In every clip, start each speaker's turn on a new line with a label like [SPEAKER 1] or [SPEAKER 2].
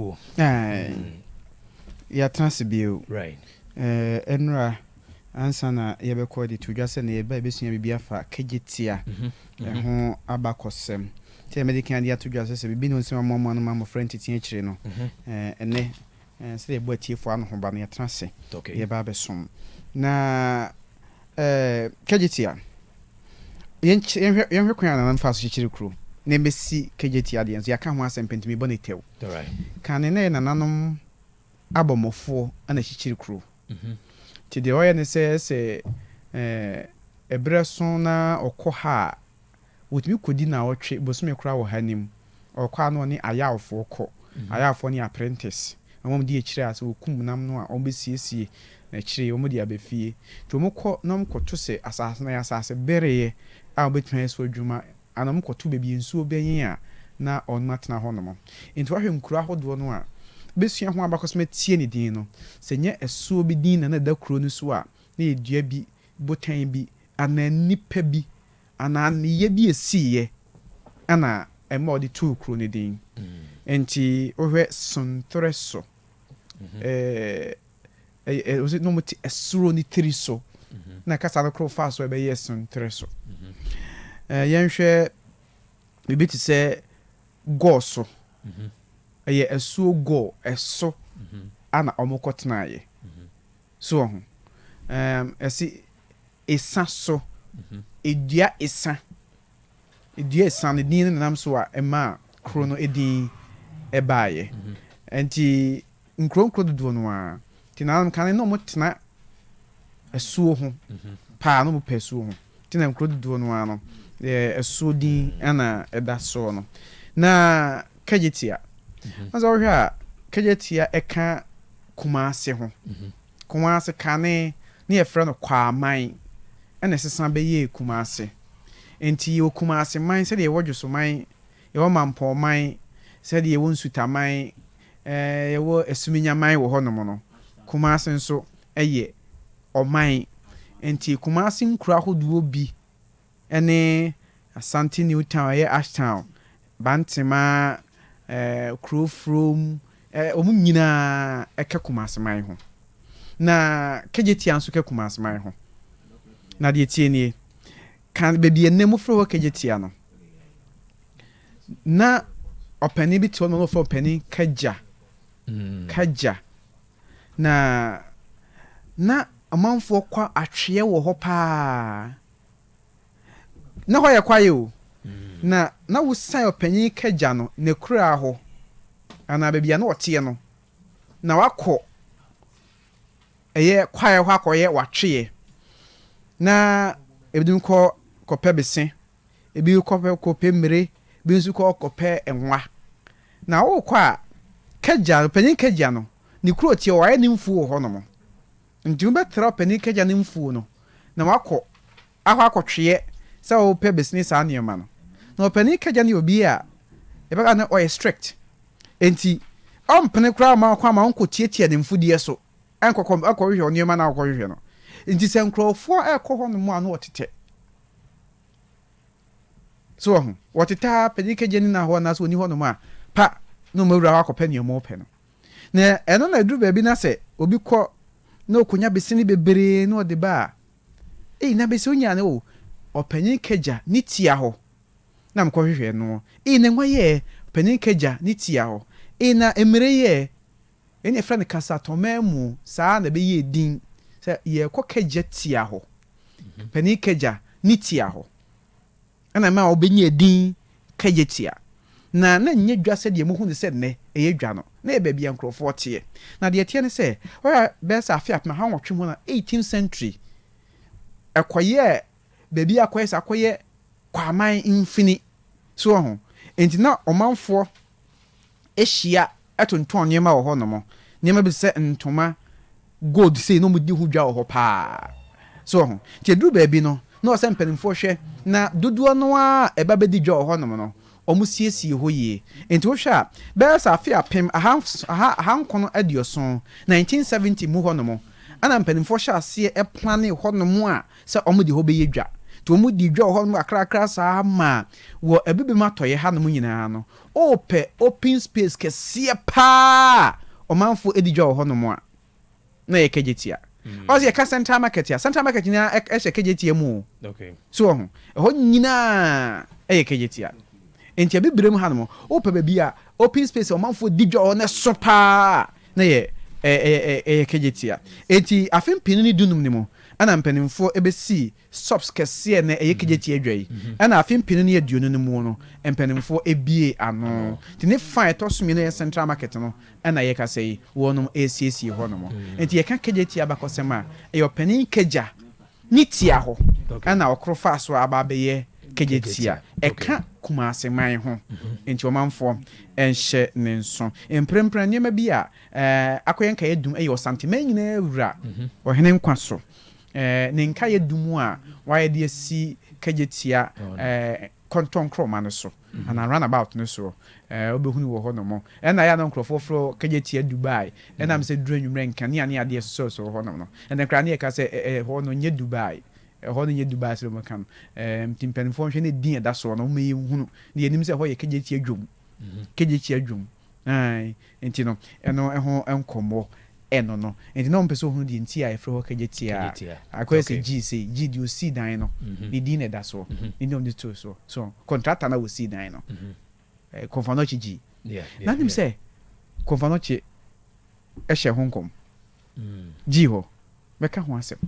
[SPEAKER 1] wo. Yɛatena ase bio.
[SPEAKER 2] Nnora,
[SPEAKER 1] ansa na yɛbɛkɔ de to dwa sɛ na yɛba yɛbɛsua biribi afa Kejetia ho abakɔsɛm. Sɛ mɛde kan de ato dwa sɛ sɛ biribi ne nsɛm amoamoa no ma mmɔfra ntete akyire no, ɛnɛ sɛdeɛ yɛbɔ atiefoɔ anohoba no, yɛatena ase yɛba abɛsom. Na Kejetia, Yɛnkyɛ, yɛnhwɛ, yɛnhwɛ kwan a nananom faa so kyekyeree kurow na ebesi KJT adeɛ nso, yɛaka ho asɛm pɛn nti merebɔ no tɛw. Kane
[SPEAKER 2] na ɛyɛ nananom
[SPEAKER 1] abɔmmɔfoɔ na ɛkyekyere kurow. Nti deɛ wɔyɛ ne sɛ, sɛ ɛɛ ɛberɛ so na wɔkɔ ha a, wɔtumi kɔdi nnawɔtwe, bosome koraa wɔ ha no mu. ɔkɔ a na ɔne ayawfoɔ kɔ, ayawfoɔ ne apprentice, na wɔn di akyire a sɛ wɔkum nam no a wɔn bɛsiesie na akyire yi wɔn de aba fie. Nti wɔn kɔ na wɔn kɔto sɛ asaase no ɛyɛ asaase bereɛ a wɔbɛtumi ayɛ so adwuma anaa wɔn kɔto baabi nsuo bɛnye a na wɔn atena hɔ nom. Nti woahwɛ nkuro ahodoɔ no a bɛsua ho abakɔsɛm atie ne din no, sɛ nyɛ ɛsoɔ bi din na na ɛda kuro no so a na ɛyɛ dua bi, botan bi anaa nipa bi Anaa nneyɛɛ bi a ɛsiiɛ na ɛma wɔde too kuro no din. Nti wohwɛ Sontorɛ so, ɛɛ, wɔse na wɔte ɛsoro no tiri so na kasa no koro faa so a ɛbɛyɛɛ Sontorɛ so. Ɛɛ, yɛnhwɛ biribi te sɛ Gɔɔ so, ɛyɛ asuo Gɔɔ, ɛso na wɔkɔtenaeɛ. So wɔ ho? Ɛɛm, ɛse esa so. Edua esa. Edua esa no din no nenam so a ɛmaa kuro no edin ɛbaeɛ. Ɛnti nkuro nkuro dodoɔ no ara. Nti nananom kan no na wɔtena asuo ho paa, na wɔpɛ asuo ho. Nti na nkuro dodoɔ no ara no yɛ ɛsoɔ din na ɛda soɔ no. Na Kagyetia, na sɛ wohwɛ a Kagyetia ɛka Kumase ho. Kumase kane na yɛfrɛ no Kwaaman ɛna ɛsesa bɛyɛɛ Kumase. Nti yɛwɔ Kumaseman sɛdeɛ yɛwɔ Dwosoman, yɛwɔ Mampɔman, sɛdeɛ yɛwɔ Nsutaman, yɛwɔ Asuminyaman wɔ hɔnom no, Kumase nso yɛ. ɔman. Enti Kumase nkuro ahodoɔ bi ne Asante New Town, ɛyɛ Ashtown, Bantema, Kurofrom, wɔn nyinaa ka Kumase man ho. Na Kegyetia nso ka Kumase man ho. Na deɛ ɛteɛ nie, kan baabi a nnɛ wɔfrɛ hɔ Kegyetia no, na ɔpanin bi te hɔ nom a na wɔfrɛ no Ɔpanin Kagya, Kagya. na na ɔmanfoɔ kɔ atweɛ wɔ hɔ pa ara. Na hɔ yɛ kwaeɛ o, na na wosiane ɔpanin Kagya no n'akuraa hɔ anaa baabi a na ɔteɛ no, na wakɔ ɛyɛ kwaeɛ hɔ akɔyɛ w'atweɛ. Na ebinom kɔ kɔpɛ bese. ebi kɔ kɔpɛ mmire, ebi nso kɔ kɔpɛ nwa. Na worekɔ a, Kagya, Ɔpanin Kagya no, ne kuro teɛ hɔ, wayɛ ne mfuo wɔ hɔnom. Nti wobɛtra Ɔpanin Kagya ne mfuo no na woakɔ akɔ akɔtweɛ sɛ wopɛ bɛsini saa nneɛma no. Na Ɔpanin Kagya no yɛ obi a yɛbɛka no ɔyɛ strict. Nti ɔmpene koraa mma wo kwan ma wonkɔtiatia ne mfudeɛ so. Ɛnkɔ kɔ ɛkɔ hwehwɛ nneɛma na ɔkɔ hwehwɛ no nti sɛ nkorɔfoɔ ɛkɔ hɔ nom a na ɔtetɛ so wɔ ho wɔtetɛ ara panyin kagya ni na hɔ anaasɛ ɔni hɔ nom a pa na ɔmɔ awura hɔ akɔ pɛ nea ɔmɔ pɛ no na ɛno na ɛduru baabi na sɛ obi kɔ na ɔkɔnya besene bebree na ɔde ba a ei na bese ɔnya no o ɔpanyin kagya ne tia hɔ na mekɔ hwehwɛ noɔ ei na nwa yɛɛ ɔpanyin kagya ne tia hɔ ei na mmire yɛɛ Wei na yɛfrɛ no kasatɔmammu. Saa ara na ɛbɛyɛɛ din sɛ yɛrekɔ Kagya tia hɔ, Panin Kagya ne tia hɔ, ɛna ɛmaa wɔbɛnyaa din Kagya tia. Na na ɛnyɛ dwa sɛdeɛ mohu no sɛ nnɛ ɛyɛ dwa no, na ɛyɛ baabi a nkurɔfoɔ teɛ. Na deɛ ɛteɛ ne sɛ, wohwɛ a bɛyɛ sɛ afe apem aha nwɔtwe ho no, eighteenth century, ɛkɔyɛɛ baabi a akɔyɛ sɛ akɔyɛ kwaman mfini. So woahu? Enti na ɔmanfoɔ hyia tontɔn nneɛma wɔ hɔnom. Nneɛma bi te sɛ ntoma, gold sei, na wɔdi ho dwa wɔ hɔ paa. So woahu? Enti ɛduru baabi no, na ɛwɔ sɛ mpanimfoɔ hwɛ na dodoɔ no ara a ɛba bɛdi dwa wɔ hɔnom no, wɔsiesie hɔ yie. Enti wohwɛ a, bɛyɛ sɛ afe apem aha nson, aha, aha nkron aduoson, 1970 mu hɔnom, ɛnna mpanimfoɔ hyɛɛ aseɛ planee hɔnom a sɛ wɔde hɔ bɛyɛ dwa. Nti wɔdii dwa wɔ hɔnom kakrakra saa ara maa wɔ abibem atɔeɛ hanom nyinaa no, wopɛ open space kɛseɛ pa ara a ɔmanfoɔ di dwa wɔ hɔnom a, na ɛyɛ Kegyetia. Ɔse yɛka Central Market a, Central Market nyinaa hyɛ Kegyetia mu o. So wɔ ho?
[SPEAKER 2] Ɛhɔ
[SPEAKER 1] nyinaa yɛ Kegyetia. Nti abibirem hanom, wopɛ baabi a open space a ɔmanfoɔ di dwa wɔ hɔ na ɛso pa ara a, na yɛ ɛ ɛ ɛ ɛ yɛ kɛgyetia. Enti afe mpenu ne dunum no mu ɛna mpaninfoɔ ɛbɛsii sops kɛseɛ na ɛyɛ kɛgyetia dwa yi. Ɛna afe mpenu ne aduonu no muo no mpaninfoɔ ɛbiee ano. Nti ne fa a ɛtɔ so mmienu a ɛyɛ central market no ɛna yɛ kasa yi wɔnom ɛresiesie hɔ nom. Enti yɛka kɛgyetia abakɔsɛm a ɛyɛ ɔpanin kɛgya Ne tia hɔ na ɔkoro faa so aba abɛyɛ Kejetia. Ɛka Kumase man ho, enti ɔmanfoɔ nhyɛ ne nso. Mprempren nneɛma bi a akɔyɛ nkaeɛ dum yɛ Ɔsanteman nyinaa wura, ɔhene nkwa so. Ne nkaeɛ dum a wɔayɛ de asi Kejetia kɔntɔnkrɔma no so. anaa round about no soɔ ɛɛ wobɛhunu wɔ hɔ nom. Ɛna ɛyɛ a na nkorɔfoɔ frɛ hɔ Kagyatia Dubai. Ɛna me sɛ ɛduru anwummerɛ nkanea ne adeɛ sosɔsosɔ hɔ nom no. Ɛnɛ koraa ne yɛka sɛ ɛ ɛ hɔ no nyɛ Dubai. Ɛhɔ no nyɛ Dubai sɛdeɛ wɔka no. Ɛɛ nti mpanimfoɔ nhwɛ na edin a ɛda soɔ no wɔmma yɛnhunu. Na yɛnim sɛ ɛhɔ yɛ Kagyatia Dwom. Kagyatia Dwom. Ae, enti no, ɛno ho nkɔmmɔ no no, enti na wɔpɛ sɛ wɔhunu deɛ nti a yɛfrɛ hɔ Kagyetia. Kagyetia. Akɔyɛ sɛ Okay. Gyii sei, Gyii deɛ ɔsii dan no, ne din na ɛda soɔ, nti na wɔde too soɔ. So, kɔntrata no a ɔsii dan no, eh, Komfanochi Gyii. Yeah, yeah, Na wonim yeah. sɛ Komfanochi hyɛɛ ho nkɔm? gyii hɔ bɛka ho asɛm.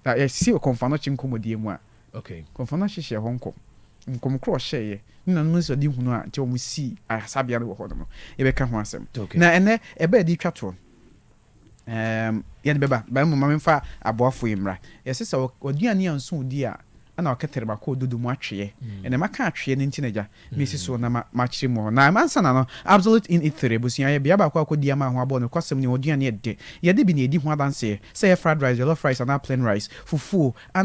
[SPEAKER 1] Na yɛsi Ɔkɔmfanoakye nkɔmmɔdie mu a, Kɔmfanoakye
[SPEAKER 2] hyɛɛ hɔ
[SPEAKER 1] nkɔm. Nkɔm korɔ a ɔhyɛeɛ, ne nananom anisoadehunu a nti wɔsii ayarasabea no wɔ hɔ no no, yɛbɛka ho asɛm. Na ɛnnɛ, ɛberɛ a yɛde retwa toɔ no, yɛde bɛba. But mmom ma memfa aboafoɔ yi mmra. Yɛse sɛ waduane anso wo di a, na ɔkɛtɛr ma kɔɔ dodo mu atweɛ, na maka atweɛ no nti na gya, mesi so na makyere mu hɔ. Na ansana no, Absolute in Ithir abusua yɛ bea baako a kɔdi ama ho abɔ nokwasɛm ne hɔn aduane yɛ dɛ. Yɛde bi na yɛdi ho adanseɛ, sɛ ɛyɛ fried rice, jollof rice anaa plain rice, fufuo, anaa.